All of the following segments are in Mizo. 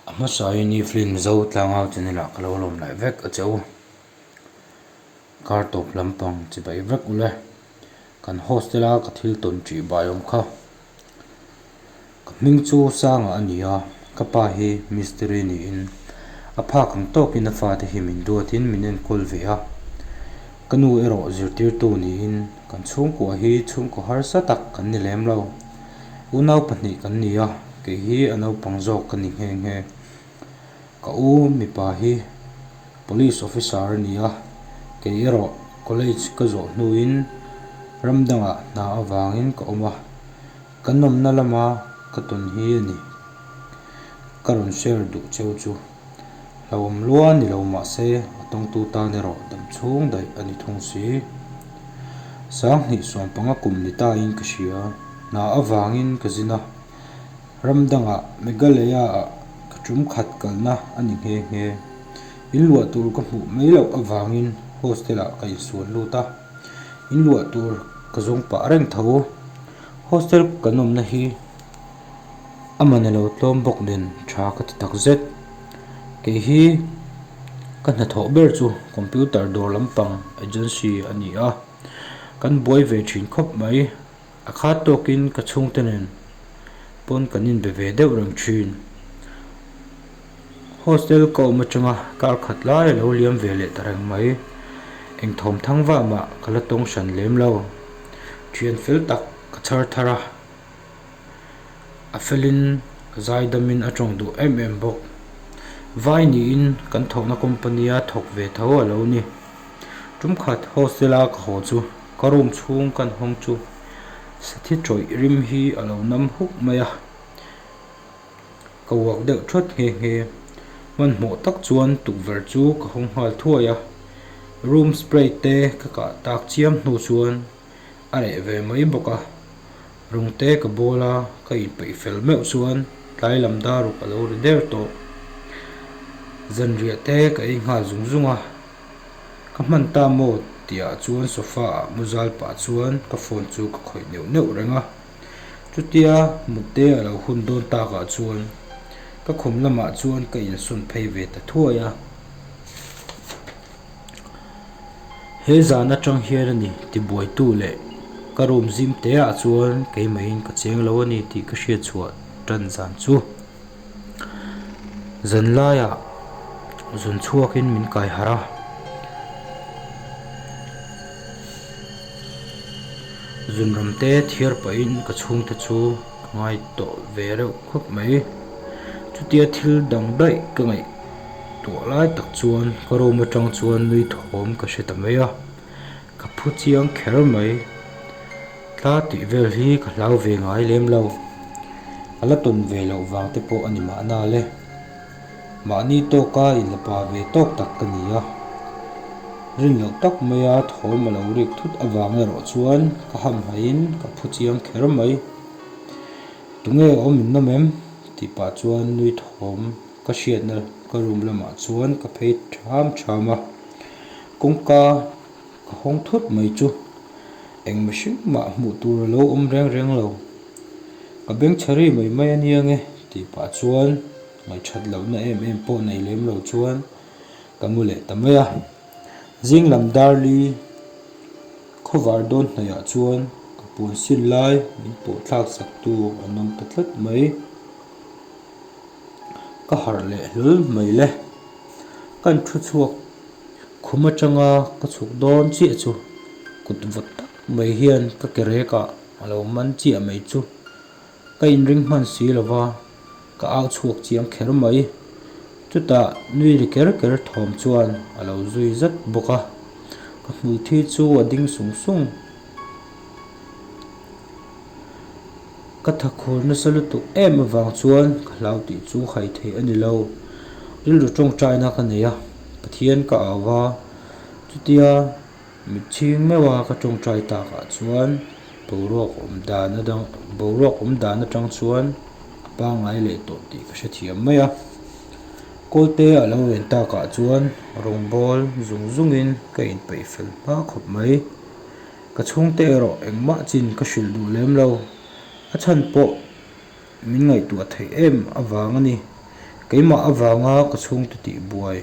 A hmasa in i film zo tlang ho chu nila ka lo lawm laih vek a cheu. Kar tawp lampang chi bai vek ula kan hostel a ka thil tawn tih bai awm kha. Ka hming chu Sanga a ni a, ka pa hi mistiri niin a phak ang tawk in a fate hi min duat in min enkawl ve a. Ka nu erawh zirtirtu niin kan chhungkua hi chhungkaw harsa tak kan ni lem lo. U nau pahnih kan ni a, kei hi a naupang zawk ka ni nghe nghe. Ka u mipa hi police officer a ni a, kei erawh college ka zawh hnuin ram dangah hna avangin ka awm a, ka nawmna lama ka tawn hi a ni, ka rawn share duh cheu chu. Hlauhawm lua ni lo mahse a tawngtu tan erawh dam chhung daih a ni thung si. Sang hnihsuam panga kum ni tain ka hria, hna avangin ka zin a, ramdanga Meghalaya-ah ka ṭum khat kalna a ni nghe nghe. In luah tur ka hmuh mai loh avangin hostel-ah ka insual lut a, in luah tur ka zawng pah reng tho. Hostel kan awmna hi. Aman a lo tlawm bawk nen tha ka ti tak zet. Kei hi ka hnathawh ber chu computer dawr lampang agency a ni a, kan buai ve thin khawp mai. A khat tawkin ka chhungte nen pawn kan inbe ve deuh reng thin. Hostel ka awm atanga kar khat lai a lo liam ve leh ta reng mai. Eng thawm thang va mah ka la tawng hran lem lo. Thian fel tak ka chhar thar a. a felin zaidamin a tawng duh em em bawk. Vai niin kan thawhna company a thawk ve tho a lo ni. Tumkhat hostel a ka haw chu ka room chhung kan hawng chu sathi tawih rim hi a lo nam huk mai a, ka uak deuh thawt nghe nghe. Hmanhmawh tak chuan tukverh chu ka hawng nghal thuai a, room spray te ka kah tak chiam hnu chuan. A reh ve mai bawk a, rung te ka bawl a, ka inpeih fel meuh chuan tlai lam daruk a lo ri der tawh. Zanriah te ka ei nghal zung zung a, ka hman ta maw tihah chuan sofa ah mu zal pah chuan ka phone chu ka khawih neuh neuh reng a. Chutia mute a lo hun dawn tak ah chuan ka khum lamah chuan ka insawn phei ve ta thuai a. He zan atang hian a ni ti buaitu leh ka room zim te ah chuan keimaiin ka cheng lo a ni tih ka hriat chhuah tan zan chu zan laia zun chhuakin min kaihar a, zun ram te thir pahin ka chhungte chu. Ka ngai tawh ve reuh khawp mai. Chutia thil dang daih ka ngaih tuah lai tak chuan ka room atang chuan nui thawm ka hre ta mai a. Ka phu chiang kher mai. Tla tih vel hi ka hlau ve ngai lem lo. Ka la tawn ve loh vang te pawh a ni mahna le. Mahni tawka in la pa ve tawk tak ka ni a, rin loh tak mai a thawm a lo rik thut avang erawh chuan ka hamhmai in ka phu chiang kher mai. Tunge awm in nawm em? tih pah chuan nui thawm ka hriatna ka room lamah chuan ka phei ṭham ṭham a. Kawngka. A hawng thut mai chu eng mihring mah hmuh tur a lo awm reng reng lo. Ka beng chhe ri mai mai a nia nge tih pah chuan ngaihthat lohna em em pawh nei lem lo chuan ka mu leh ta mai a. Zing lam darli khaw var dawn hnaih ah chuan ka puan sin lai min pawhthlak sak tu an awm ta tlat mai. ka harh leh hlul mai le. Ka thu chhuak khum atanga ka chhuk dawn chiah chu kut vawt tak mai hian ka ke rekah a lo man chiah mai chu. Ka inring hman si lo va, ka au chhuak chiang kher mai. Chutah nui ri ker ker thawm chuan a lo zui zat bawk a, ka hmui thi chu a ding sung sung. Ka thakhur nasa lutuk em avang chuan ka hlau tih chu hai thei a ni lo. Rilru tawngtaina ka nei a, Pathian ka au a, chutia mitchhing meuh a ka tawngtai tak ah chuan boruak awm dan adang boruak awm dan atang chuan a pangngai leh tawh tih ka hrethiam mai a. Kawlpe a lo ren tak ah chuan rawngbâwl zung zungin ka inpeih fel hma khawp mai. Ka chhungte erawh engmah chin ka hrilh duh lem lo. A chhan pawh min ngaihtuah theih em avang a ni. Keimah avanga ka chhungte tih buai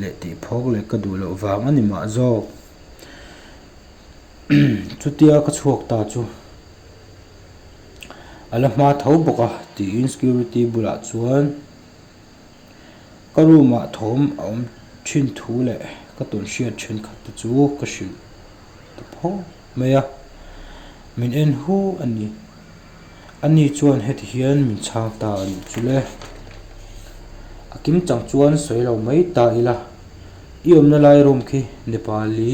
leh tih phawk leh ka duh loh vang a ni mah zawk. Chutia ka chhuak ta chu a la hma tho bawk a, tiin security bulah chuan. Ka room ah thawm a awm thin thu leh ka tawn hriat thin khat te chu ka hrilh ta pho mai a, min en hu a ni. Ani chuan heti hian min chhang ta a nih chu le. A kim chang chuan sawi lo mai ta ila, i awmna lai room khi Nepali.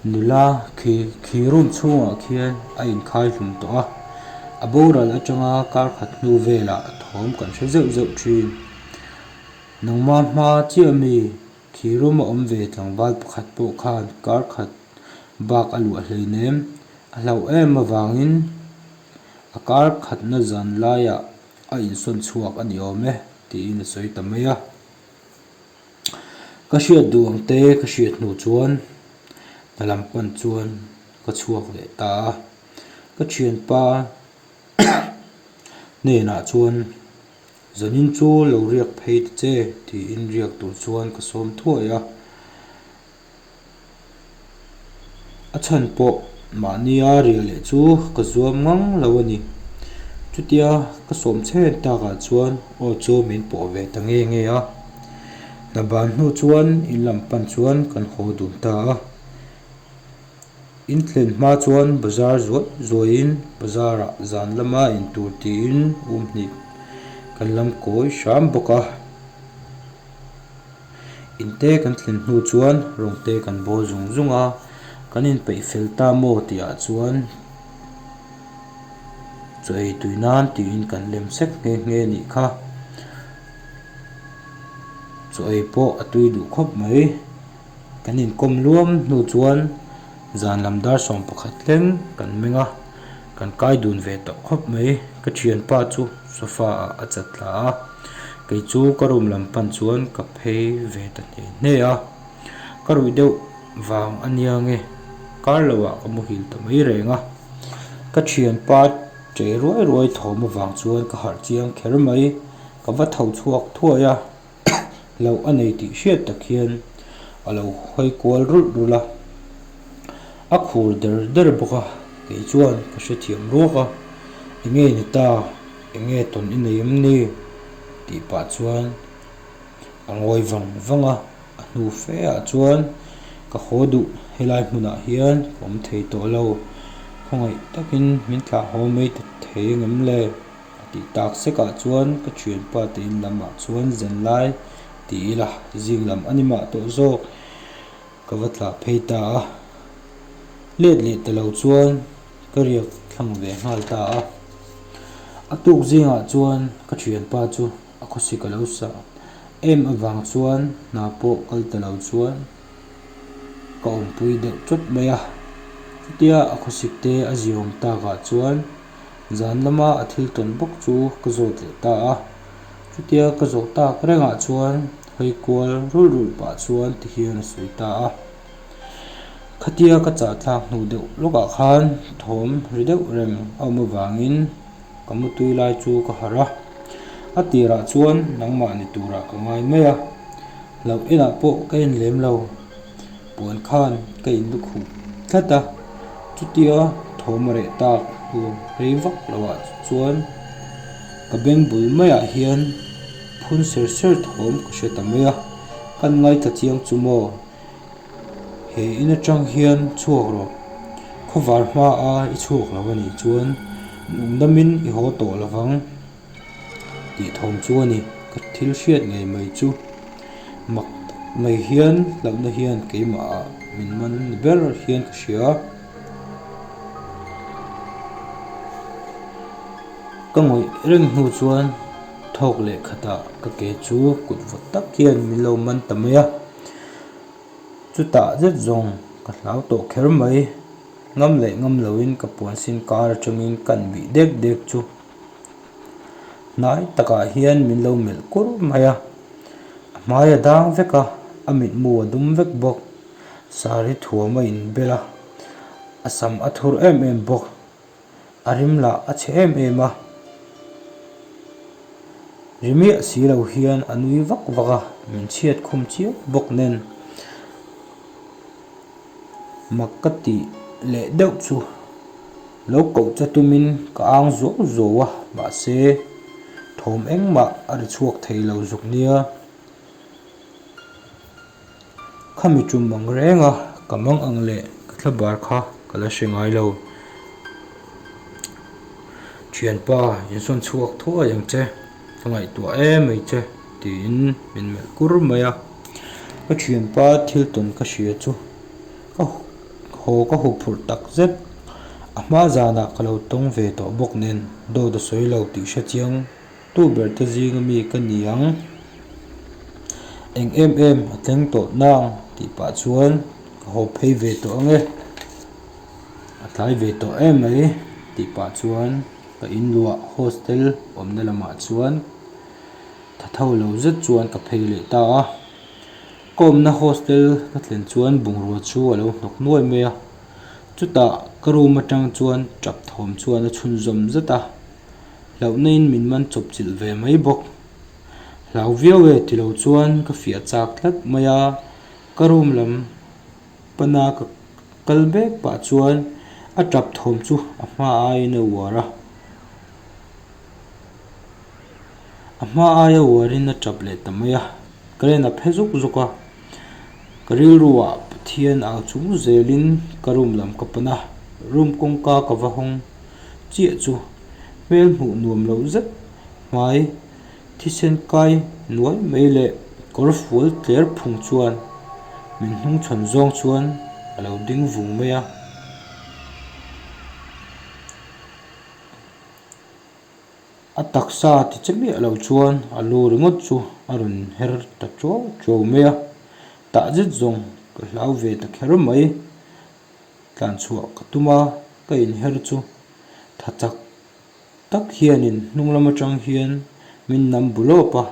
Nula khi khi room chhungah khian a inkhai hlum tawh a, a boral atanga kar khat hnu velah thawm kan hre zeuh zeuh thin. Nangma hma chiah mi khi room a awm ve tlangval pakhat pawh khan kar khat bak a luah hleinem a hlauh em avangin a kar khatna zan laiah a insawn chhuak a ni awm e tiin a sawi ta mai a. Ka hriat duh ang te ka hriat hnu chuan ka lam pan chuan ka chhuak leh ta a, ka thianpa hnenah chuan zanin chu lo riak phei ta che tiin riak tur chuan ka sawm thuai a, a chhan pawh mahnia ria leh chu ka zuam ngang lo a ni. Chutia ka sawm chhen tak ah chuan aw chu min pawh ve ta nge nge a. Hna ban hnu chuan in lam pan chuan kan haw dun ta a. In thlen hma chuan bazar zuai zuai in bazar ah zan lama in tur ti in um hnih kan lam kawi hram bawk a. In te kan thlen hnu chuan rawng te kan bawl zung zung a, kan in peih fel ta maw tih ah chuan chaw ei tui nan tih in kan lem sek nghe nghe nih kha. Chaw ei pawh a tui duh khawp mai, kan in kawm luam hnu chuan zan lam dar sawm pakhat thleng kan meng a. Kan kai dun ve tawh khawp mai. Ka thianpa chu sofa ah a chat hla a, kei chu ka room lam pan chuan ka phei ve ta hneh hneh a. Ka ruih deuh vang a nia nge kar lo ah ka muhil ta mai reng a. Ka thianpa che ruai ruai thawm avang chuan ka harh chiang kher mai, ka va tho chhuak thuai a, loh a nei tih hriat tak hian a lo hawi kual rulh rulh a, a khur der der bawk a, kei chuan ka hre thiam ruak a, enge ni ta, enge tawn i nei em ni? tih pah chuan a ngawi vang vang a, a hnu fe ah chuan ka haw duh helai hmunah hian ka awm thei tawh lo, khawngaih takin min thlahhaw mai ta thei a ngem le? A tih tak sekah chuan ka thianpa tein lamah chuan Zenlai ti ila zing lam a ni mah tawh zawk ka va tla phei ta a. Let leh ta lo chuan ka riak thlang ve nghal ta a. A tuk zingah chuan ka thianpa chu a khawsik a lo sa em avang chuan hna pawh kal ta lo chuan ka awmpui deuh chawt mai a. Chutia a khawsik te a ziawm takah chuan. Zan lama a thil tawn bawk chu ka zawt leh ta a, chutia ka zawh tak rengah chuan hawi kual rul rul pah chuan ti hian a sawi ta a. Khatia ka chahthlak hnu deuh lawkah khan thawm hre deuh reng a awm avangin ka mu tui lai chu ka harh a. A tirah chuan nangmah ni turah ka ngai mai a, hlauh enah pawh ka en lem lo. Puan khan ka in lukhuh tlat a, chutia thawm reh tak tur rei vak lohah chuan ka beng bul maiah hian phun ser ser thawm ka hre ta mai a, kan ngaithla chiang chu maw he in atang hian chhuak rawh, khawvar hmaa i chhuak loh a nih chuan nung dam in i haw tawh lovang. tih thawm chu a ni. Ka thil hriat ngei mai chu. Mak mai hian hlauhna hian keimahah min man ber hian ka hria. Ka ngawih reng hnu chuan thawk leh khatah ka ke chu kut vawt tak hian min lo man ta mai a. Chutah zet zawng ka hlau tawh kher mai. Ngam leh ngam loin ka puansin kar atangin ka han bih dek dek chu. Hnai takah hian min lo melh kur mai a, a hmai a dang vek a, a mitmu a dum vek bawk. Saree thuam a inbel a, a sam a thur em em bawk, a rim lah a chhe em em a, ri miah si lo hian a nui vak vak a, min chhiat khum chiah bawk nen. Mak ka tih leh deuh chu lo kohcha tumin ka âng zo zo a, mahse, thawm engmah a ri chhuak thei lo zuk nia. Khami ṭum ang reng a, ka mang ang leh ka thla bar kha ka la hre ngai lo. Ṭhianpa insawn chhuak thuai ang che. Ka ngaihtuah e mai che, tiin min melh kur mai a. Ka thianpa thil tawn ka hria chu, ka haw ka hu phurh tak zet. A hma zanah ka lo tawng ve tawh bawk nen, dawt a sawi lo tih hre chiang, tu ber te zinga mi ka ni ang, eng em em a tleng tawh nang tih pah chuan ka haw phei ve tawh ang e, a tlai ve tawh e mai tih pah chuan. Ka inluah hostel awmna lamah chuan thatho lo zet chuan ka phei leh ta a. Ka awmna hostel ka thlen chuan bungrua chu a lo hnawk nuai mai a. Chutah ka room atang chuan tap thawm chuan a chhun zawm zet a. Hlauhnain min man chawp chilh ve mai bawk. Hlau viau e ti lo chuan ka fiah chak tlat mai a, ka room lam. Pana ka kal bek pah chuan a tap thawm chu a hma ain a uar a. A hma ai a uarin a tap leh ta mai a, ka len a phe zawk zawk a. Ka rilruah Pathian au chung zelin ka room lam ka pan a, room kawngka ka va hawng chiah chu hmel hmuh nuam loh zet hmai. Thisen kai nuai mai leh kawr fual tler phung chuan min hnung chhawn zawng chuan a lo ding vung mai a. A taksa ti che miah lo chuan a lu ringawt chu a rawn her ta ṭo ṭo mai a. Tah zet zawng ka hlau ve ta kher mai. Tlan chhuah ka tum a ka inher chu tha chak-- tak hianin hnunglam atang hian min nam bu lawp a,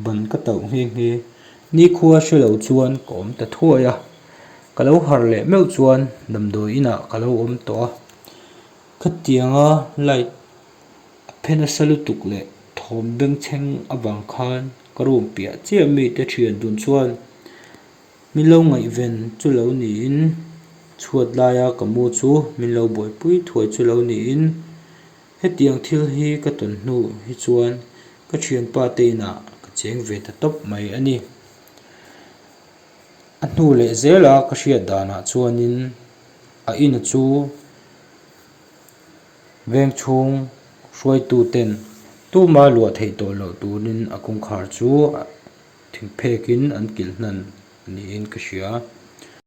ban ka tauh nghe nghe. Nikhua hre lo chuan ka awm ta thuai a, ka lo har leh meuh chuan damdawi inah ka lo awm tawh a, khatianga light a phen a sa lutuk leh thawm bengchheng avang khan ka room piah chiah mite thian dun chuan. Min lo ngaihven chu lo niin chhuat laia ka mu chu min lo buaipui thuai chu lo niin hetiang thil hi ka tawn hnu hi chuan ka thianpa te inah ka cheng ve ta tawp mai a ni. A hnu leh zela ka hriat danah chuanin a ina chu veng chhung hruaituten tuma luah theih tawh loh turin a kawngkhar chu a. Thingphek in an kilh hnan niin ka hria.